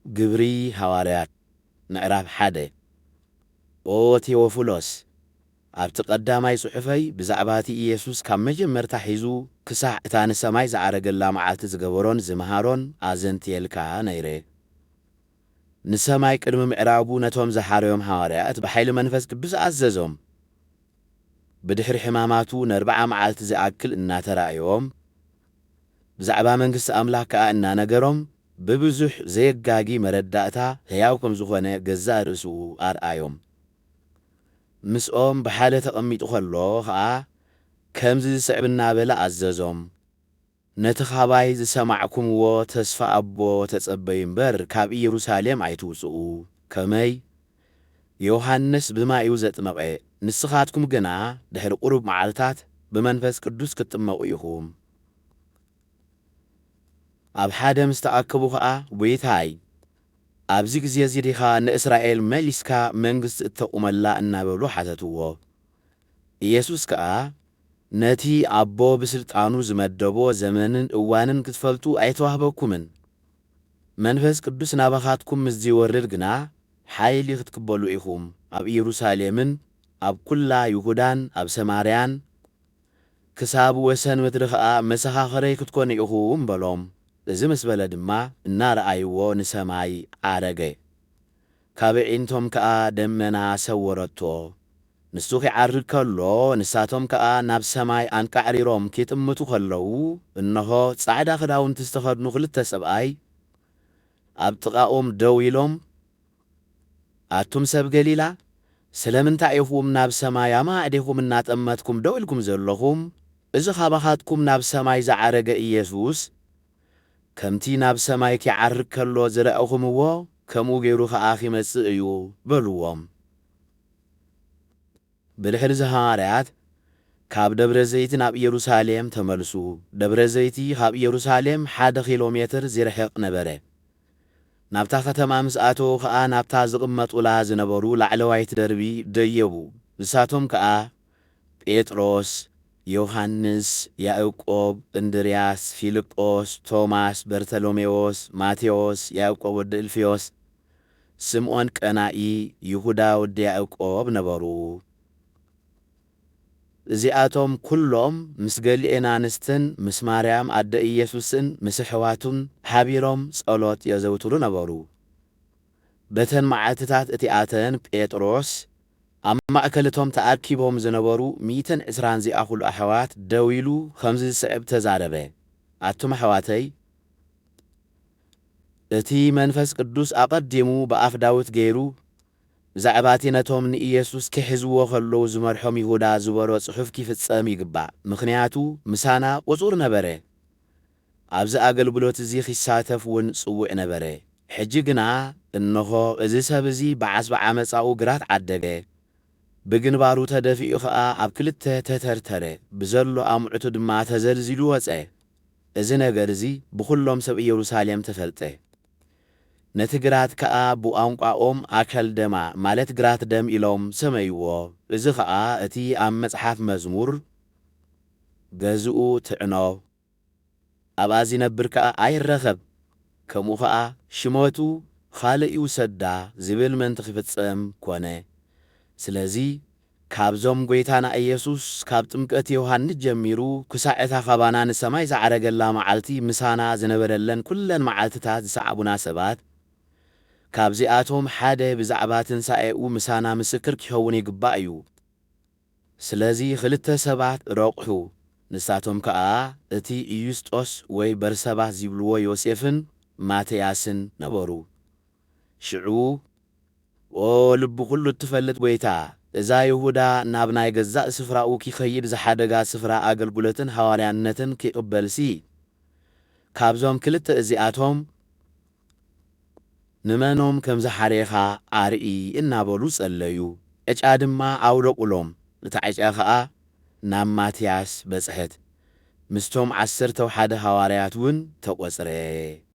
ግብሪ ሃዋርያት ምዕራፍ ሓደ ኦ ቴዎፍሎስ፣ ኣብቲ ቐዳማይ ጽሑፈይ ብዛዕባ እቲ ኢየሱስ ካብ መጀመርታ ኂዙ ክሳዕ እታ ንሰማይ ዝዓረገላ መዓልቲ ዝገበሮን ዝመሃሮን ኣዘንትየልካ ነይረ። ንሰማይ ቅድሚ ምዕራጉ ነቶም ዝሓረዮም ሃዋርያት ብኃይሊ መንፈስ ቅዱስ ኣዘዞም። ብድኅሪ ሕማማቱ ነርብዓ መዓልቲ ዚኣክል እናተራእዮም፣ ብዛዕባ መንግስቲ ኣምላኽ ከኣ እናነገሮም ብብዙሕ ዘየጋጊ መረዳእታ ሕያው ከም ዝኾነ ገዛእ ርእሱ ኣርኣዮም። ምስኦም ብሓደ ተቐሚጡ ኸሎ ኸኣ ከምዚ ዝስዕብ እናበለ ኣዘዞም፣ ነቲ ኻባይ ዝሰማዕኩምዎ ተስፋ ኣቦ ተጸበዩ እምበር፣ ካብ ኢየሩሳሌም ኣይትውጽኡ። ከመይ? ዮሃንስ ብማይ እዩ ዘጥመቐ፣ ንስኻትኩም ግና ድሕሪ ቁሩብ መዓልታት ብመንፈስ ቅዱስ ክትጥመቑ ኢኹም። ኣብ ሓደ ምስ ተኣከቡ ኸኣ፣ ጐይታይ፣ ኣብዚ ግዜ እዚ ዲኻ ንእስራኤል መሊስካ መንግስቲ እተቑመላ እናበሉ ሓተትዎ። ኢየሱስ ከኣ፣ ነቲ ኣቦ ብስልጣኑ ዝመደቦ ዘመንን እዋንን ክትፈልጡ ኣይተዋህበኩምን፣ መንፈስ ቅዱስ ናባኻትኩም ምስ ዚወርድ ግና፣ ሓይሊ ኽትቅበሉ ኢኹም፣ ኣብ ኢየሩሳሌምን ኣብ ኵላ ይሁዳን ኣብ ሰማርያን ክሳብ ወሰን ምድሪ ኸኣ መሰኻኽረይ ክትኰኑ ኢኹም በሎም። እዚ ምስ በለ ድማ እናረኣይዎ ንሰማይ ዓረገ። ካብ ኣዒንቶም ከኣ ደመና ሰወረቶ። ንሱ ኺዓርግ ከሎ፣ ንሳቶም ከኣ ናብ ሰማይ ኣንቃዕሪሮም ኪጥምቱ ኸለዉ፣ እንሆ፣ ጻዕዳ ኽዳውንቲ ዝተኸድኑ ኽልተ ሰብኣይ ኣብ ጥቓኦም ደው ኢሎም፣ ኣቱም ሰብ ገሊላ፣ ስለምንታይ ኢኹም ናብ ሰማይ ኣማዕዲኹም እናጠመትኩም ደው ኢልኩም ዘለኹም? እዚ ኻባኻትኩም ናብ ሰማይ ዝዓረገ ኢየሱስ፣ ከምቲ ናብ ሰማይ ኪዓርግ ከሎ ዝረኣኹምዎ፣ ከምኡ ገይሩ ኸኣ ኺመጽእ እዩ በልዎም። ብድሕርዚ ሃዋርያት ካብ ደብረ ዘይቲ ናብ ኢየሩሳሌም ተመልሱ። ደብረ ዘይቲ ኻብ ኢየሩሳሌም ሓደ ኺሎ ሜትር ዚርሕቕ ነበረ። ናብታ ኸተማ ምስ ኣተዉ ኸኣ ናብታ ዝቕመጡላ ዝነበሩ ላዕለዋይት ደርቢ ደየቡ፣ ንሳቶም ከኣ ጴጥሮስ፣ ዮሃንስ፣ ያእቆብ፣ እንድርያስ፣ ፊልጶስ፣ ቶማስ፣ በርተሎሜዎስ፣ ማቴዎስ፣ ያእቆብ ወዲ እልፍዮስ፣ ስምዖን ቀናኢ፣ ይሁዳ ወዲ ያእቆብ ነበሩ። እዚኣቶም ኵሎም ምስ ገሊኤን ኣንስትን ምስ ማርያም ኣደ ኢየሱስን ምስ ኣሕዋቱን ሓቢሮም ጸሎት የዘውትሩ ነበሩ። በተን መዓልትታት እቲኣተን ጴጥሮስ ኣብ ማእከል እቶም ተኣኪቦም ዝነበሩ ሚእትን ዕስራን ዚኣኹሉ ኣሕዋት ደው ኢሉ ኸምዚ ዝስዕብ ተዛረበ፣ ኣቱም ኣሕዋተይ፣ እቲ መንፈስ ቅዱስ ኣቐዲሙ ብኣፍ ዳዊት ገይሩ ብዛዕባ እቲ ነቶም ንኢየሱስ ኪሕዝዎ ኸለዉ ዝመርሖም ይሁዳ ዝበሎ ጽሑፍ ኪፍጸም ይግባእ፣ ምኽንያቱ ምሳና ቕጹር ነበረ፣ ኣብዚ ኣገልግሎት እዚ ኺሳተፍ እውን ጽውዕ ነበረ። ሕጂ ግና እንሆ፣ እዚ ሰብ እዚ ብዓስቢ ዓመጻኡ ግራት ዓደገ፣ ብግንባሩ ተደፊኡ ኸኣ ኣብ ክልተ ተተርተረ፣ ብዘሎ ኣምዑቱ ድማ ተዘልዚሉ ወጸ። እዚ ነገር እዚ ብዅሎም ሰብ ኢየሩሳሌም ተፈልጠ። ነቲ ግራት ከኣ ብቋንቋኦም ኣከልደማ፣ ማለት ግራት ደም ኢሎም ሰመይዎ። እዚ ኸኣ እቲ ኣብ መጽሓፍ መዝሙር ገዝኡ ትዕኖ። ኣብኣ ዚነብር ከኣ ኣይረኸብ፣ ከምኡ ኸኣ ሽመቱ ኻልእ ይውሰዳ ዚብል ምእንቲ ኺፍጸም ኰነ። ስለዚ፣ ካብዞም ጐይታና ኢየሱስ ካብ ጥምቀት ዮሃንስ ጀሚሩ ክሳዕ እታ ኻባና ንሰማይ ዝዓረገላ መዓልቲ ምሳና ዝነበረለን ኵለን መዓልትታት ዝሰዓቡና ሰባት፣ ካብዚኣቶም ሓደ ብዛዕባ ትንሳኤኡ ምሳና ምስክር ኪኸውን ይግባእ እዩ። ስለዚ ኽልተ ሰባት ረቝሑ፣ ንሳቶም ከኣ እቲ ዩስጦስ ወይ በርሰባስ ዚብልዎ ዮሴፍን ማትያስን ነበሩ። ሽዑ፣ ኦ ልቢ ዅሉ እትፈልጥ ጐይታ፣ እዛ ይሁዳ ናብ ናይ ገዛእ ስፍራኡ ኪኸይድ ዝሓደጋ ስፍራ ኣገልግሎትን ሃዋርያነትን ኪቕበልሲ፣ ካብዞም ክልተ እዚኣቶም፣ ንመኖም ከም ዝሓሬኻ ኣርኢ እናበሉ ጸለዩ። ዕጫ ድማ ኣውለቑሎም፣ እታ ዕጫ ኸኣ ናብ ማትያስ በጽሐት፣ ምስቶም ዓሰርተው ሓደ ሃዋርያትውን ተቖጽረ።